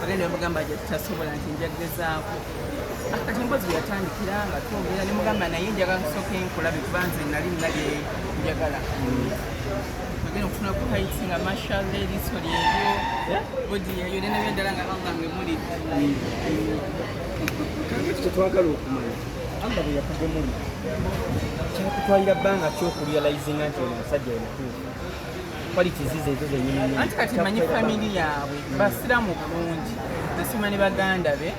bagenda bamugamba nti tasobola nti nja kugezaako kati mbozi yatandikira nga twogera ne mugamba naye njagala kusooka enkulabe kuba nze nali nalye njagala bagenda okufuna ku haiti nga mashalla eriiso lyeryo eh? bodi yeyo nena byendala nga allah nge muli kyetwagala okumanya allah bwe yakugomuli kyakutwalira bbanga kyokurealizinga nti oyo omusajja yemutuufu qualities zezo zenyini anti kati manyi family yaabwe mm. basiramu bulungi nasima ne baganda be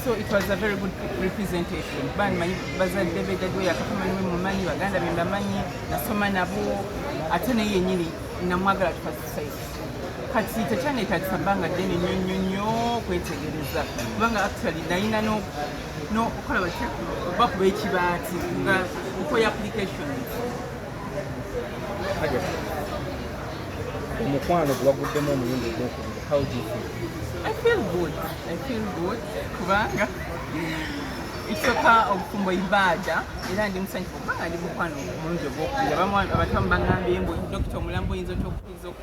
so it was a very good representation bani manyi bazadde be dadiwe yakafamanyi we mumanyi baganda be mbamanyi nasoma nabo ate naye yenyini namwagala tuka society kati tekyanetagisa bbanga ddene nyo nyo nyo kwetegereza kubanga actually nayina nokukola bakuba ekibaati nga nkoya applications omukwano gwewaguddemu omulundi ogwokubiri how do you feel i feel good i feel good kubanga ekisooka obufumbo ibaada era ndi musanyufu kubanga ndi mukwano omulundi ogwokubiri abantu amu bangambye mbu dokita omulambo oyinza otya okuyinza oku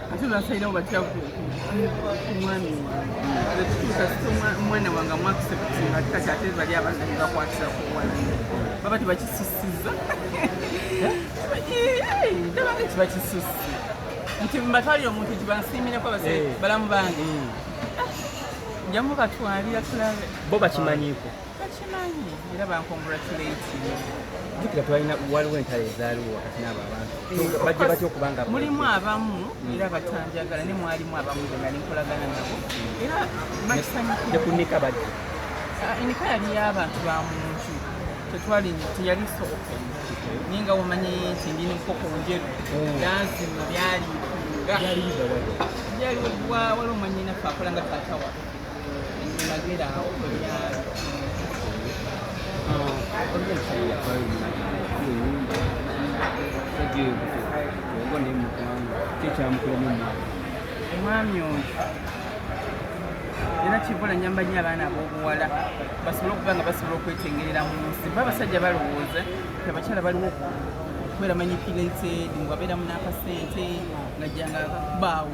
ate basalirawo batya ku mwami wange kituusa sita omwana wange amwakisebutinga ati kati ate bali abaana bebakwatira ku wala baba tebakisusiza nabange tibakisusi nti mbatwalira omuntu nti bansiimireko base balamu bange njamubatwalira tulabe bo bakimanyiiko bakimanyi era bankongratulatinga jukira twalina waliwo entalo ezaaliwo wakati n'abo abantu eh, bajja batya okuba nga mulimu abamu hmm. era batanjagala ne mwalimu abamu be nali nkolagana nabo hmm. era bakisanyukira ne ku nika bajja ah, enika yali y'abantu ba muntu tetwali teyali soboka naye nga wamanyi nti ndi nenkoko njeru hmm. danzima byali byali waliwo mwanyinafe akola nga taata waffe omwami oyo era kivula nyamba nyo abaana abobuwala basobole okuba nga basobola okwetengerera mu nsi ba abasajja balowooza ti abakyala baliwo kubeera manyi pilented ngabeeramu n'akasente ngajjanga baawo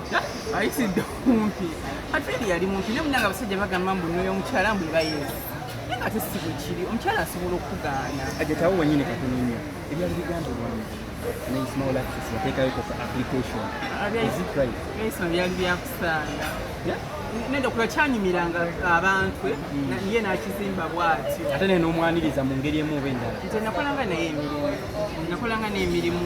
ayisidde okumpi atwedi yali mumpi naye munanga abasajja bagamba mbu noyo omukyala mbu ebayezi naye nga tesi bwe kiri omukyala asobola okugaana ajetawo wenyini katunonya ebyali bigambibwamu naismaulakisateekayokoaplicationisma byali byakusaala nenda okuba kyanyumiranga abantu eh? mm. ye nakizimba bwatyo ate nene omwaniriza mu ngeri emu oba endala nze nakolanga naye emirimu nakolanga n'emirimu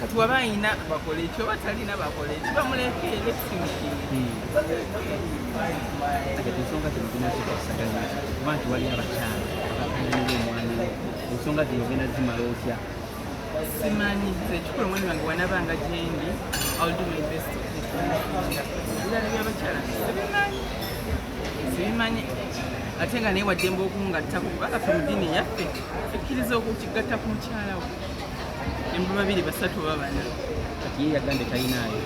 kati waba ayina bakola ekyo oba talina bakola ekyo bamuleke ensonga zino zinazikusaganya kuba nti wali abakyala abakanira omwana we ensonga zino genda zimala otya simanyi nze ekikulu omwana wange wanabanga gyendi ebirala byabakyala sibimanyi sibimanyi ate nga naye waddemba okungattako kubanga fe mu ddiini yaffe ekkiriza okukigatta ku mukyala we embu babiri basatu oba bana kati ye yagambe talinaayo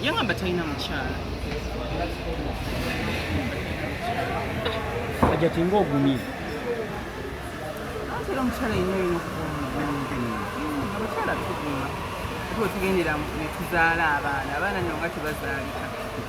yagamba talina mukyala ajati nga ogumye atera omukyala yina olina okubaomukyala tuguma ate otugendera netuzaala abaana abaana nonga tebazaalika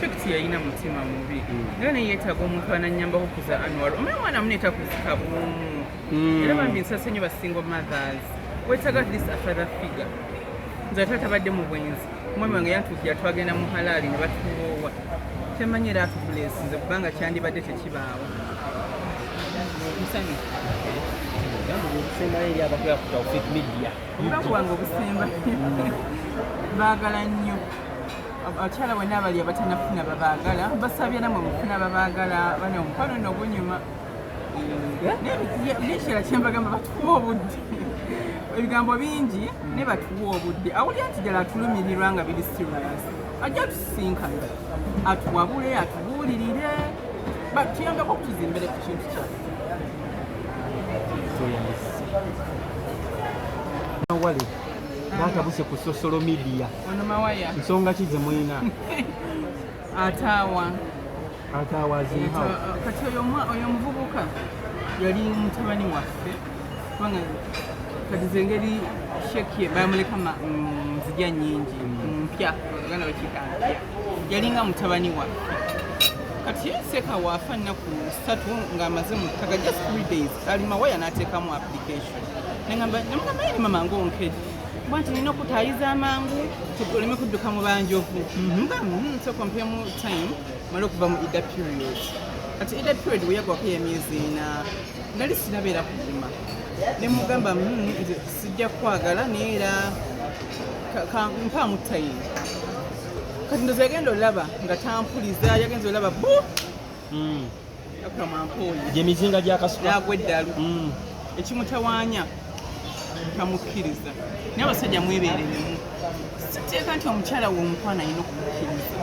Shakti yalina mutima mubi naye naye yeetaaga omuntu anannyamba okukuza Anwar omanyi omwana mune takuzika bwomu hmm. era bambi nsasonyi ba single mothers weetaaga this a father figure nze taata badde mu bwenzi omwami wange yatuukira twagenda mu halaali ne batuwoowa temanyi era atubulesinze kubanga kyandibadde tekibaawo musanyufu obusembayo eri abakola ku taufik media omukazi wange obusemba baagala nnyo abakyala bonna abali abatanafuna babaagala basabye namwe mufuna babaagala bana omukwano no gunyuma bikira kyembagamba batukuba obudde ebigambo bingi ne batuwa obudde awulira nti ddala atulumirirwa nga biri serious ajja tusisinkana atuwabule atubuulirire batuyambeko okutuzimbire ku kintu kyaffe wale batabuse ku social media nsonga ki zemulina ataawa kati oyo omuvubuka yali mutabani waffe kubanga kati zengeri shekie bamuleka nzija mm, nyingi mm. mpya oganda bakikampya yalinga mutabani waffe kati yeseka waafa nnaku satu ng'amaze mu ttaka just three days ali mawaya n'ateekamu application nengamba nemugamba yali mama ngaonkedi kuba nti nina okutaayiza amangu oleme kudduka mu banjovu mhm. mugamu mm, nsoka mpemu time mala okuva mu ida period kati ida period weyagwako yemyezi ina nali sinabeera kuguma ne mugamba hmm, sijja kwagala naye era mpaamu time kati ndozi yagenda olaba nga tampuliza yagenza olaba bu hmm. gyemizinga gyakasukagwa eddalu mm. ekimutawaanya tamukkiriza naye abasajja mwebereremu siteeka nti omukyala we omukwana alina okukkiriza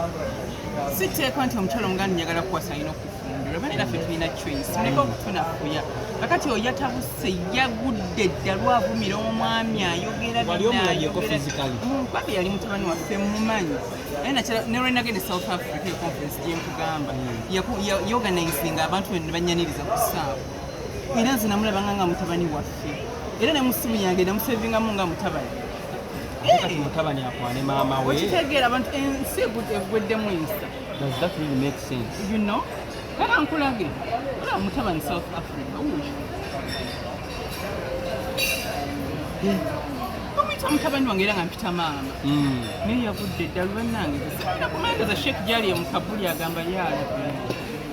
siteeka nti omukyala omuganda njagala kukwasa alina okufumbirwa bane naffe tulina choice muleke okutunafuya kakati oyo yatabuse yagudde ddalu avumira omwami ayogera mm, babi yali mutabani waffe mumanyi ne lwe nagenda e south africa eyo conference gye nkugamba yorganizinga abantu bene ne banyaniriza ku saawa era nze namulabanga nga mutabani waffe era ne mu ssimu yange namusevingamu nga mutabani kati mutabani akwane maama we okitegeera abantu ensi egweddemu ensa does that really make sense you know kaka nkulage olaba mutabani south africa omuyita mutabani wange era nga mpita maama hmm. naye yagudde eddalu bannange era kumageza sheekh gyali emukabuli agamba yaala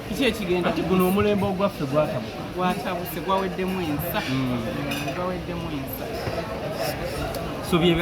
kiki ekigenda kati guno omulembe ogwaffe gwatabuka gwatabuse gwaweddemu ensa hmm. gwaweddemu ensa so byebe